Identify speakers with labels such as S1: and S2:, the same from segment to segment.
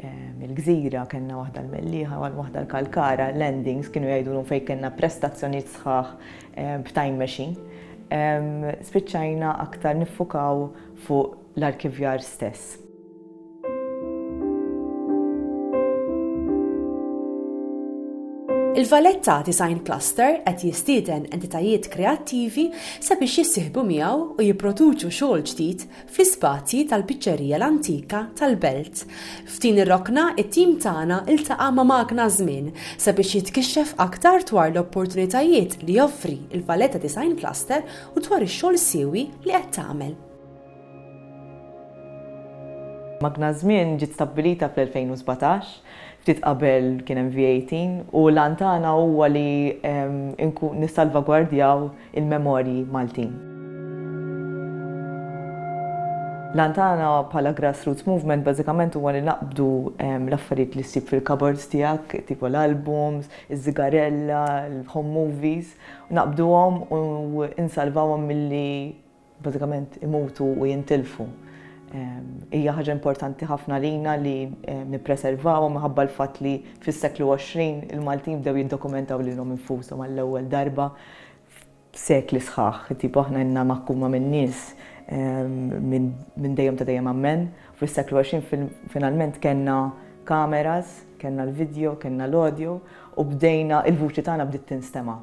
S1: il-gżira, kellna waħda l-Mellieħa, waħda l-Kalkara, landings kienu jgħidulhom fejn kellna prestazzjonijiet sħaħ b'time machine. Spiċċajna aktar niffukaw fuq l-arkivjar stess.
S2: Il-Valletta Design Cluster qed jistieden entitajiet kreattivi sabiex jissieħbu miegħu u jipproduċu xogħol ġdid fl-ispazji tal-Piċċerija l-Antika tal-Belt. F'din ir-rokna, it-tim tagħna ltaqa' ma' Magna Żmien sabiex jitkixxef aktar dwar l-opportunitajiet li joffri l-Valletta Design Cluster u dwar ix-xogħol siewi li qed tagħmel.
S1: Magna Żmien ġiet stabbilita fl-2017 ftit qabel kien hemm VAT, u l-għan tagħna huwa li nissalvagwardjaw il-memorji Maltin. L-għan tagħna bħala grassroots movement bażikament huwa li naqbdu l-affarijiet li ssib fil-cupboards tiegħek, tipo l-albums, iż-żigarella, il-home movies, naqbduhom u nsalvawhom milli bażikament imutu u jintilfu. Hija ħaġa importanti ħafna lina li nippreservawhom minħabba l-fatt li fis-seklu 20 il-Maltin bdew jiddokumentaw lilhom infushom għall-ewwel darba f'sekli sħaħ. Tipo aħna ilna maħkuma minn nies minn dejjem ta' dejjem Ammen. Fis-seklu 20 finalment kellna kameras, kellna l-vidjo, kellna l-audio u bdejna, il-vuċi tagħna bdiet tinstema'.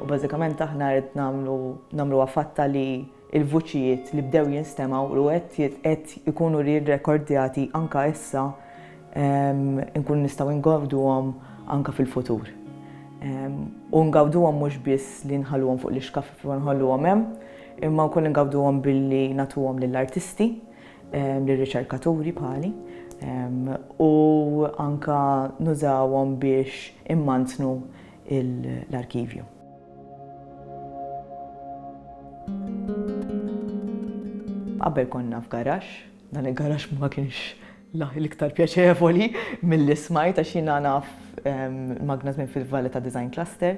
S1: U bażikament aħna qed nagħmlu nagħmluha fatta li l-vuċijiet li bdew jinstemgħu u qed qed ikunu rirrekordjati anka issa nkunu nistgħu ngawduhom anka fil-futur. U ngawduhom mhux biss li nħalluhom fuq l-ixkaf u nħalluhom hemm, imma wkoll ngawduhom billi nagħtuhom lill-artisti. lir-riċerkaturi bħali u anke nużawhom biex immantnu l-arkivju. Qabel konna f'garaxx, dan il-garaxx ma kienx l-iktar pjaċevoli milli smajt għax jiena naf magna żmien fil-Valletta Design Cluster,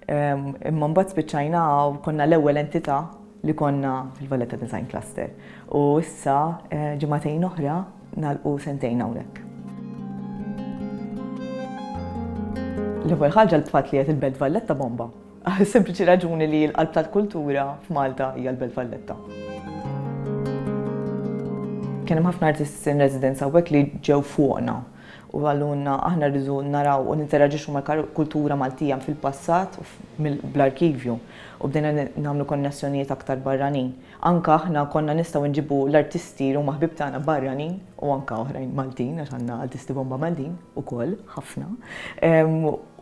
S1: Imma mbagħad spiċċajna u konna l-ewwel entità li konna fil-Valletta Design Cluster. U issa ġimagħtejn oħra nagħlqu sentejn hawnhekk. L-ewwel ħaġa l-fatt li qed il-Belt Valletta bomba. Għas-sempliċi raġuni li l-qalb tal-kultura f'Malta hija l-Belt Valletta. Kien hemm ħafna artists in residence hawnhekk li ġew fuqna. u qalulna aħna rridu naraw u ninteraġixxu mal-kultura Maltija minn fil-passat u bl-arkivju u bdejna nagħmlu konnessjonijiet aktar barranin. Anke aħna konna nistgħu nġibu l-artisti li huma ħbieb tagħna barranin u anke oħrajn Maltin għax għandna artisti bomba Maltin ukoll, ħafna,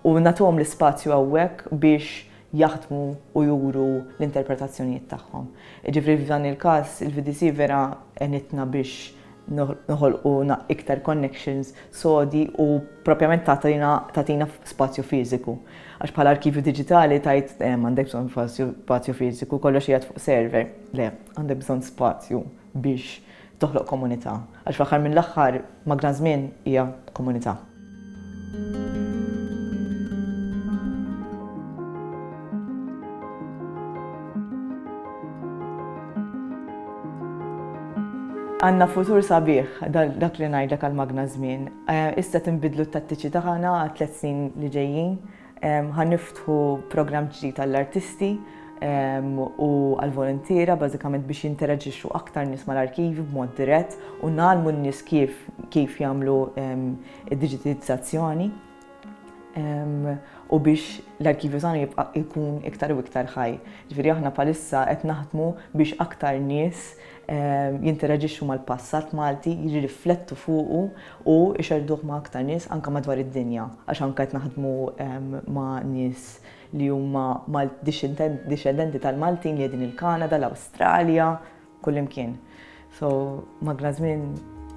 S1: u nagħtuhom l-ispazju hawnhekk biex jaħdmu u juru l-interpretazzjonijiet tagħhom. Jiġifieri f'dan il-każ il-VDC vera għenitna biex noħolqu iktar connections sodi u propjament tagħtina spazju fiżiku. Għax bħala arkivju diġitali tajt eh, għandek bżonn spazju fiżiku, kollox qiegħed fuq server. Le, għandek bżonn spazju biex toħloq komunità. Għax fl-aħħar mill-aħħar ma' gran żmien hija komunità. Għandna futur sabiħ, dak li ngħidlek għall-magna żmien. Issa tinbidlu t-tattiċi tagħna għat-tliet snin li ġejjin. Ħa niftħu programm ġdid għall-artisti u għall-voluntiera bażikament biex jinteraġixxu aktar nies mal-arkivi b'mod dirett u ngħallmu n-nies kif kif jagħmlu id-diġitizzazzjoni u biex l-arkivju tagħna jibqa' jkun iktar u iktar ħaj. Ġifieri aħna bħalissa qed naħdmu biex aktar nies jinteraġixxu mal-passat Malti, jirriflettu fuqu u jxerrduh ma' aktar nies anke madwar id-dinja għax anke qed naħdmu ma' nies li huma dixxendenti tal-Maltin li qegħdin il-Kanada, l-Awstralja, kullimkien. So, magna żmien.